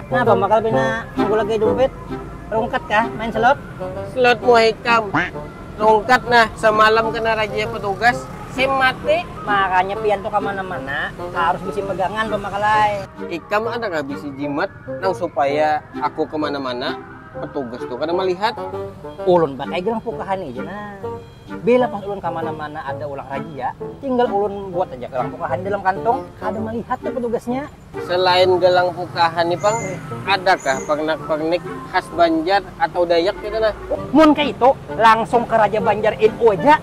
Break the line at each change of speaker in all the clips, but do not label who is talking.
Napa bakal pina manggulaki dumpit? Rungkat kah main slot? Slot muha
ikam. Rungkat nah, samalam kena rajia petugas, sim mati. Makanya pian tu
kamana-mana harus bisi pegangan pamakal ai. Ikam ada kah
bisi jimat nang supaya aku kemana-mana petugas tu kada malihat? Ulun pakai
gelang pukahan haja nah. Bila pas ulun kamana-mana ada ulang rajia, tinggal ulun buat aja gelang pukahan dalam kantong, kada malihat tu petugasnya. Selain gelang
pukahan ni pang, adakah pernak-pernik khas Banjar atau Dayak kaytu nah? Mun kaytu,
langsung ka Raja Banjar NU aja.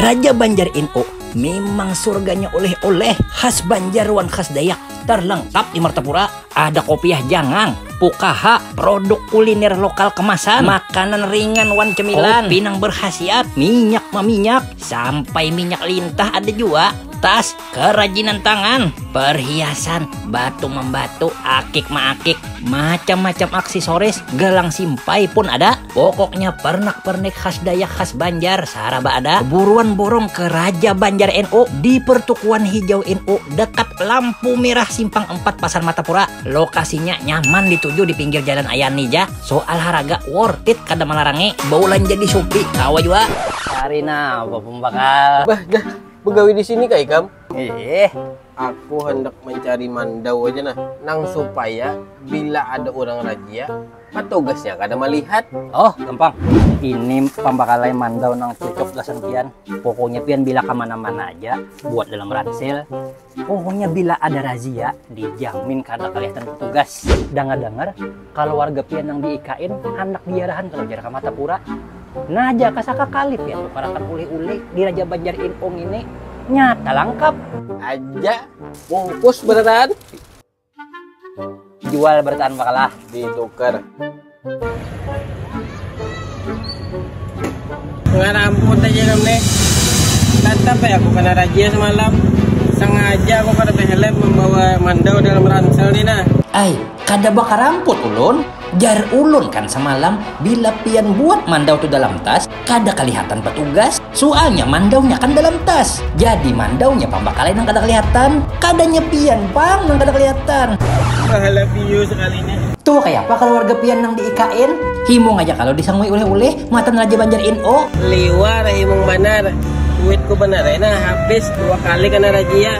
Raja Banjar NU mimang surganya oleh-oleh khas Banjar wan khas Dayak, terlengkap di Martapura. Ada kopiah jangang, pukaha, produk kuliner lokal kemasan, makanan ringan wan cemilan, kopi nang berkhasiat, minyak maminyak, sampai minyak lintah ada jua, tas, kerajinan tangan, perhiasan, batu membatu, akik maakik, macam-macam aksesoris, gelang simpai pun ada. Pokoknya pernak pernik khas dayak khas banjar saraba ada buruan borong ke raja banjar NU di pertukuan hijau NU dekat lampu merah simpang empat pasar matapura lokasinya nyaman dituju di pinggir jalan ayani ja soal haraga worth it kada malarangi baulanja di shopee kawa jua. Cari napa
pembakal. Bah jah,
begawi di sini kah ikam? Iih,
aku hendak mencari
mandau aja nah, nang supaya bila ada urang rajia, petugasnya kada melihat oh gampang
ini pambakalai mandau nang cocok gasan pian pokoknya pian bila kemana-mana aja buat dalam ransel pokoknya bila ada razia dijamin kada kelihatan petugas dengar-dengar kalau warga pian nang diikain handak diarahan kalau jar kamata pura nah jaka sakakali pian tukarakan ulih-ulih di Raja Banjar Info ngini nyata langkap aja
bungkus beneran.
jual bertahan makalah ditukar
nggak ramput aja namanya tetap ya aku kena rajia semalam sengaja aku kada helm membawa mandau dalam ransel nih nah ay kada
bakaramput ulun jar ulun kan semalam bila pian buat mandau tu dalam tas Kada kalihatan batugas, sualnya mandaunya kan dalam tas. Jadi mandaunya pambakalai nang kada kalihatan, kadanya pian pang nang kada kalihatan. Pahala piyu
sakalinya. Tuh kayapa kaluarga
pian nang di ikn? Himung aja kalu disangui uleh-uleh matan Raja Banjar NO. Liwar
himung banar, duitku banar ai nah habis dua kali kena rajia.